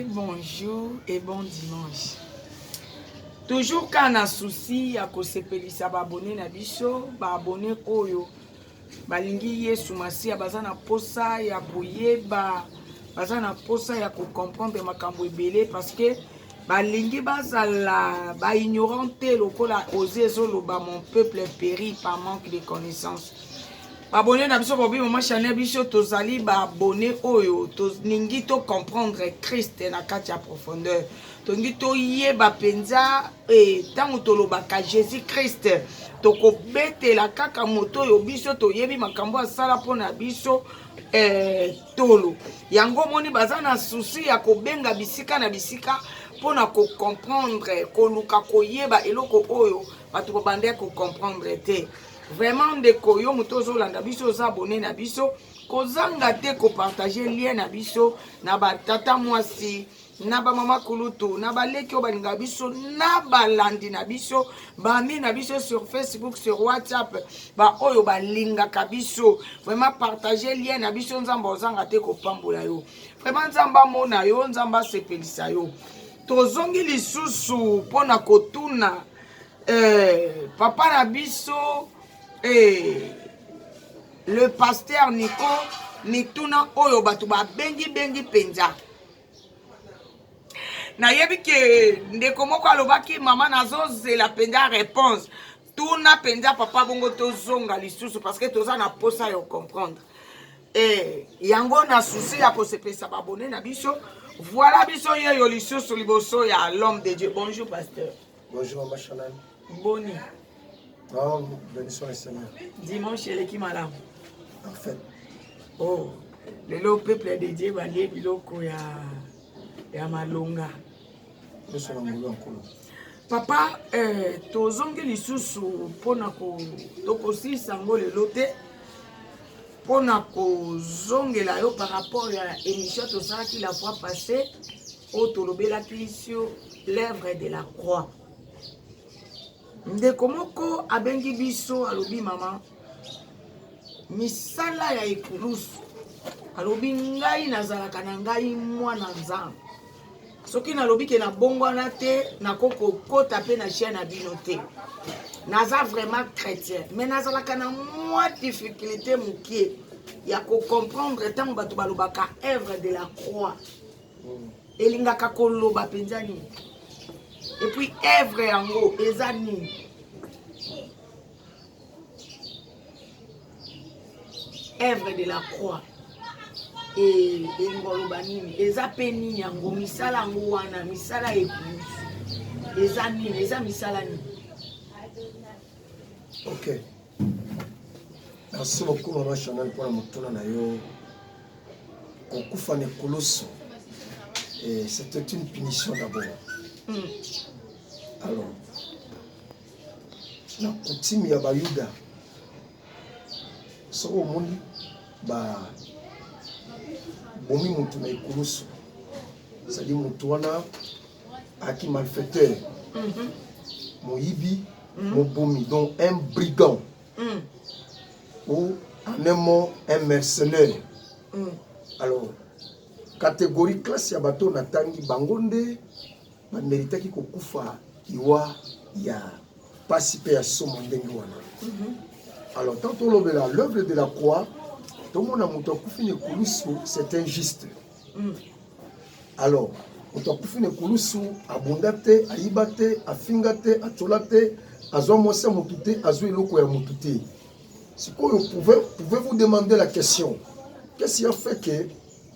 Bonjour et bon dimanche. Toujours ka na souci ya kosepelisa baabone na biso, baabone oyo balingi Yesu Masiya baza na posa ya koyeba, baza na posa ya kocomprendre makambo ebele parce que balingi bazala ba ignorant te lokola ozi ezoloba mon peuple péri par manque de connaissance babone na biso bobi mama chanel biso tozali babone oyo tolingi to comprendre christ na kati ya profondeur tolingi toyeba mpenza ntango eh, tolobaka jésus christ tokobetela kaka moto oyo biso toyebi makambo asala mpo na biso eh, tolo yango omoni baza na susi ya kobenga bisika na bisika mpo na kocomprendre koluka koyeba eloko oyo bato babandaki kocomprendre te Vraiment ndeko yo moto ozolanda biso oza abone na biso kozanga te kopartage lien na biso na batata mwasi na bamama kulutu na baleki oyo balingaka biso na balandi na biso bami na biso sur facebook sur whatsapp baoyo balingaka biso vraiment partage lien na biso nzambe ozanga te kopambola yo vraiment nzambe amona yo nzambe asepelisa yo tozongi lisusu mpo na kotuna Eh, papa na biso eh, le pasteur Nico mituna oyo bato babengi bengi mpenza nayebi ke ndeko moko alobaki mama nazozela mpenza réponse tuna mpenza papa bongo tozonga lisusu parce que toza na mposa ya comprendre eh, yango na susi ya kosepelisa babone na biso voilà biso yeyo lisusu liboso ya l'homme de dieu bonjour pasteur Bonjour Mama Chanel. Boni. Oh, bénissons le Seigneur. Dimanche eleki malamu. En fait. Oh, lelo peuple dédié balie biloko ya ya malonga. Nyonso na ngolu ya nkolo. Papa, eh, tozongi lisusu mpona ko tokosilisa yango lelo te mpona kozongela yo par rapport ya émission tosalaki la fois passée oyo tolobelaki sur l'œuvre de la croix ndeko moko abengi biso alobi mama misala ya ekulusu alobi ngai nazalaka na ngai mwana nzambe soki nalobi ke nabongwana te nakoki kokota mpe na chien na bino te naza vraiment chrétien mais nazalaka na mwa difficulté mokie ya kocomprendre ntango bato balobaka œuvre de la croix elingaka koloba mpenza nini epuis evre yango eza nini evre de la croix elinga oloba nini eza mpe nini yango misala yango wana misala epuis eza nini eza misala nini ok merci beaucoup mama chanel mpona motuna na yo kokufa na ekulusu eh, c'était une punition d'abord mm. alors na coutume ya bayuda soki omoni ba bomi motu na ekulusu ezali motu wana aki malfaiteur mm -hmm. moyibi mm -hmm. mobomi donc un brigand mm. ou en un mot un mercenaire mm. alors catégorie classe ya bato natangi bango nde bameritaki kokufa liwa ya mpasi mpe ya somo ndenge wana mm -hmm. alors tant tolobela l'œuvre de la croix tomona moto akufi na ekulusu c'est injuste mm. Alors, moto akufi na ekulusu abunda te, ayiba te, afinga te, atyola te, azwa mwasi ya motu te, azwa eloko ya motu te. Sikoyo pouvez-vous demander la question qu'est-ce qui a fait que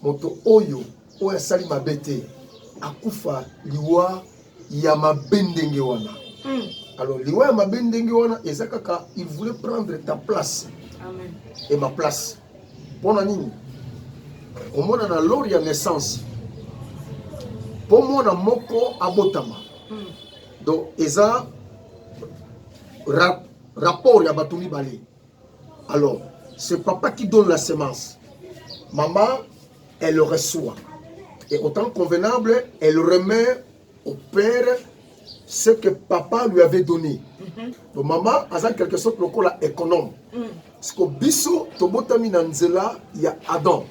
moto oyo oyo asali mabe te akufa liwa ya mabe ndenge wana hmm. alors liwa ya mabe ndenge wana eza kaka il voulait prendre ta place Amen. et ma place Pona nini omona na lori ya naissance mpo mwana moko abotama hmm. donc eza ra, rapport ya bato mibale alors c'est papa qui donne la semence maman elle reçoit et autant convenable elle remet au père ce que papa lui avait donné mhm. to mama aza quelque sorte lokola économe mm. siko biso tobotami na nzela ya adam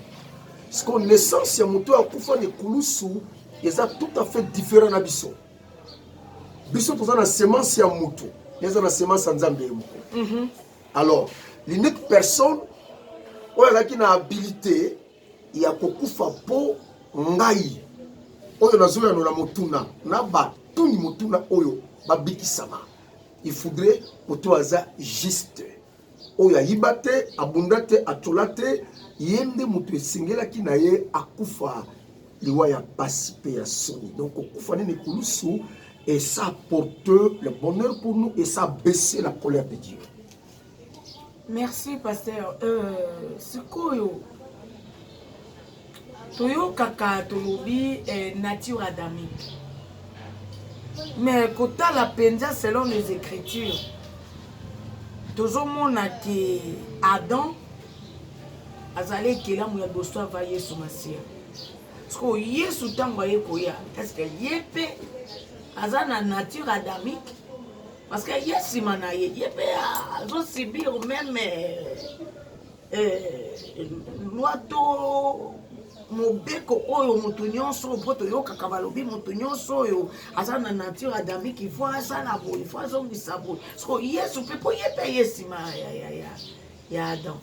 siko naissance ya moto oyo akufa na ekulusu eza tout à fait différent na biso biso toza na semence ya moto eza na semence ya nzambe ye moko mhm. alors l'unique personne oyo azalaki na habilité ya kokufa mpo ngai oyo nazoyanola motuna na batuni motuna oyo babikisama il faudrait moto aza juste oyo ayiba te abunda te atyola te ye nde moto esengelaki na ye akufa liwa ya mpasi mpe ya soni donc kokufa nini kulusu et ça porte le bonheur pour nous et ça baisse la colère de Dieu Merci pasteur euh, sikoyo toyokaka tolobi eh, nature adamique mais kotala mpenza selon les écritures tozomona ke adam azali ekelamu ya liboso ava yesu masiya sikoyo yesu ntango aye koya estce ye mpe aza na nature adamique parce que ye nsima na ye ye mpe azosibir meme eh, loi to mobeko oyo moto nyonso oyo mpo toyokaka balobi moto nyonso oyo aza na nature adamiki fo asala boye fo azongisa boye soko yesu mpe mpo ye mpe ye nsima ya adam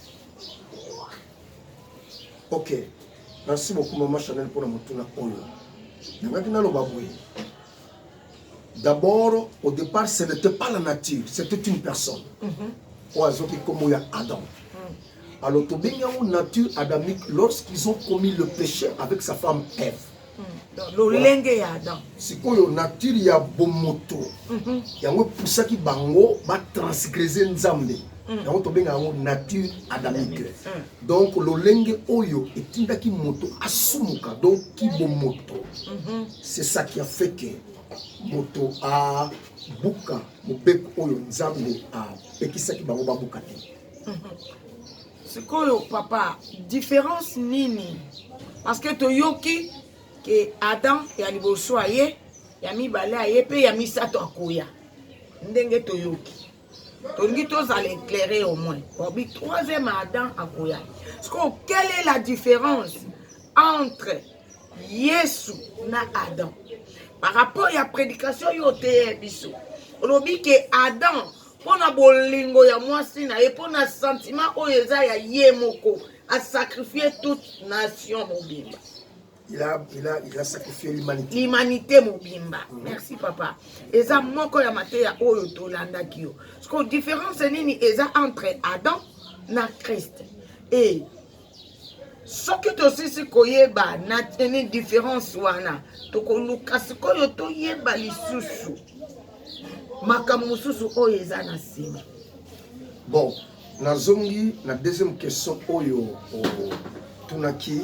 ok merci beaucoup mama chanel mpona motuna oyo nangaki naloba boye D'abord, au départ, ce n'était pas la nature, c'était une personne. Oyo azoki kombo ya Adam. Mm. Alors tobengi yango nature adamique lorsqu'ils ont commis le péché avec sa femme Ève. Mm. lolenge ya adam sikoyo nature ya bomoto mhm. yango epusaki bango batransgrese nzambe mm. yango tobenga yango nature adamique donc lolenge oyo etindaki moto asumuka donc kibomoto mhm. C'est ça qui a fait que moto a buka mobeko oyo Nzambe a pekisaki bango ba buka te. Sikoyo papa, différence nini? Parce que toyoki que Adam ya liboso aye, ya mibale aye pe ya misato akoya. Ndenge toyoki. tolingi tozala éclairé au moins obi troisième adam akoya sikoyo quelle est la différence entre yesu na adam par rapport ya prédication yo oteye biso olobi ke adam mpo na bolingo ya mwasi na ye mpo na sentiment oyo eza ya ye moko asakrifie toute nation mobimba il a, il a, il a sacrifié l'humanité. L'humanité mobimba. Mm. Merci papa. Eza moko ya mateya oyo tolandaki yo. Parce que différence nini eza entre Adam na Christ. Et soki tosisi koyeba na teni différence wana tokoluka sikoyo toyeba lisusu makambo mosusu oyo eza na nsima bon Nazongi na deuxième question oyo otunaki,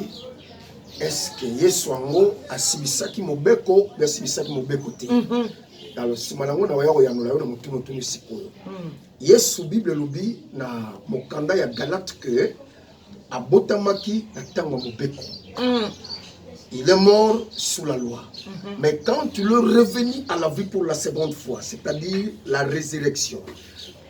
est-ce que Yesu yango asibisaki mobeko mpe asibisaki mobeko te? mm -hmm. Alors nsima nango na oya koyanola yo na motuna otuni sikoyo. mm. Yesu Bible elobi na mokanda ya Galate que abotamaki na ntango ya mobeko. mm. Il est mort sous la loi. Mm -hmm. Mais quand il est revenu à la vie pour la seconde fois, c'est-à-dire la résurrection,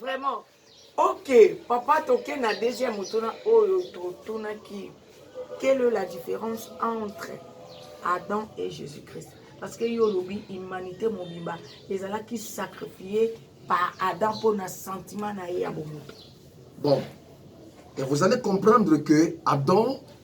Vraiment. Ok, papa toke na deuxième motuna oyo totunaki. Quelle est la différence entre Adam et Jésus-Christ Parce que yo lobi humanité mobimba ezalaki sacrifié par Adam pour na sentiment na ye ya bomoto. Bon, et vous allez comprendre que Adam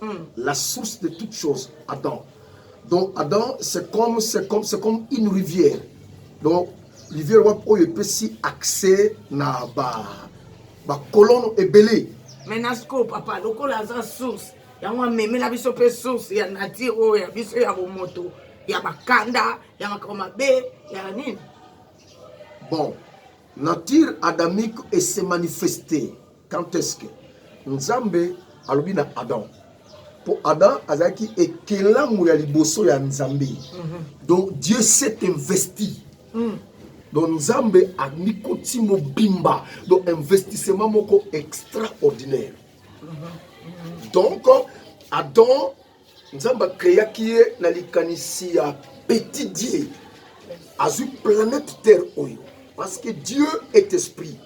Hmm. La source de toute chose, Adam. Donc Adam, c'est comme, c'est comme, c'est comme une rivière. Donc rivière wapi oyo epesi accès na ba ba colonne ebele. Mais na scope papa, lokola aza source yango amemela biso mpe source ya nature oyo ya biso ya bomoto ya bakanda ya makambo mabe ya nini bon nature adamique ese manifeste Quand est-ce que Nzambe alobi na Adam mpo Adam azalaki ekelamu ya liboso ya Nzambe. Mhm. Donc Dieu s'est investi. Mm. donc nzambe amikoti mobimba donc investissement moko extraordinaire donc adam nzambe akreaki ye na likanisi ya petit dieu azwi planète terre oyo parce que dieu est esprit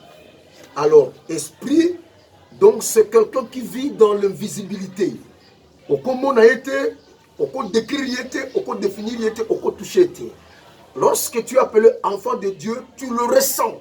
alors esprit donc c'est quelqu'un qui vit dans l'invisibilité okomona ye te okodécrire ye te okodéfinir ye te okotouche ye te lorsque tu es appelé enfant de dieu tu le ressens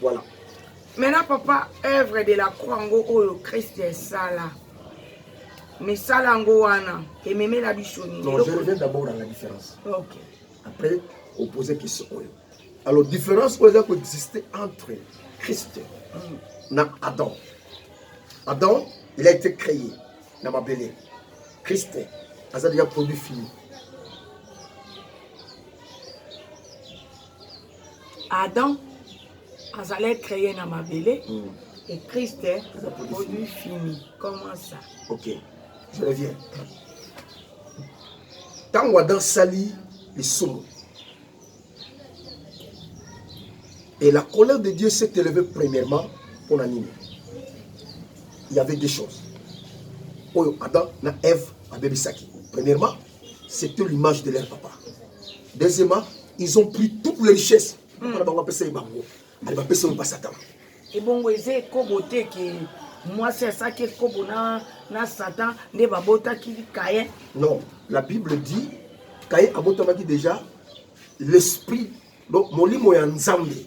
Voilà. Maintenant papa, œuvre de la croix ngo oyo Christ esala. Misala ngo wana ememela biso nini? Non, je reviens d'abord à la différence. OK. Après, opposer question oyo. Alors différence oyo eza ko exister entre Christ mm. na Adam. Adam, il a été créé na mabele. Christ aza déjà produit fini. Adam azalaki créé na mabele mm. et Christ est produit fini. Comment ça Ok, je reviens. Ntango Adam sali lisumu, et la colère de Dieu s'est élevée premièrement pour l'anime. Il y avait deux choses. Oyo Adam na Ève abebisaki. Premièrement, C'était l'image de leur papa. Deuxièmement, ils ont pris toutes les richesses. Papa hmm. na bango apesa ye bango. Ali bapesa oyo basatan. Ebongo eza ekobo te ke mwasi asaki ekobo na, na satan nde babotaki kaye non la bible dit kaye abotamaki déjà l'esprit donc molimo ya nzambe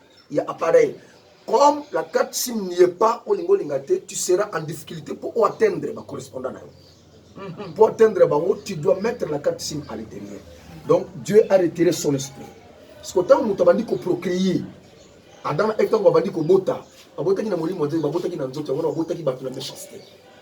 ya appareil comme la carte sim n'y est pas olinga olinga te tu seras en difficulté pour o atteindre ba correspondant na yo mhm. pour atteindre bango tu dois mettre la carte sim à l'intérieur donc Dieu a retiré son esprit siko ntango moto abandi koprocreye adama eve ntango abandi kobota babotaki na molimo ya nzambe babotaki na nzoto yango wana babotaki bato na méchanceté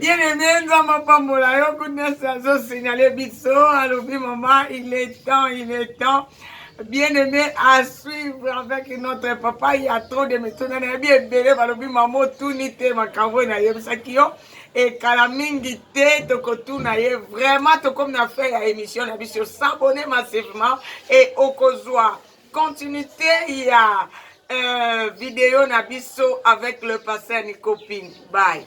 ye nene nzambe apambola yo kunesi azosignale biso alobi mama il est temps il est temps bien aimé à suivre avec notre papa il y a trop de mituna nayebi ebele balobi mama otuni te makambo oyo nayebisaki yo ekala mingi te tokotuna ye vraiment tokomi na fin ya émission na biso s'abonne massivement et okozwa continuité ya euh, video na biso avec le pasteur Nico Ping. Bye.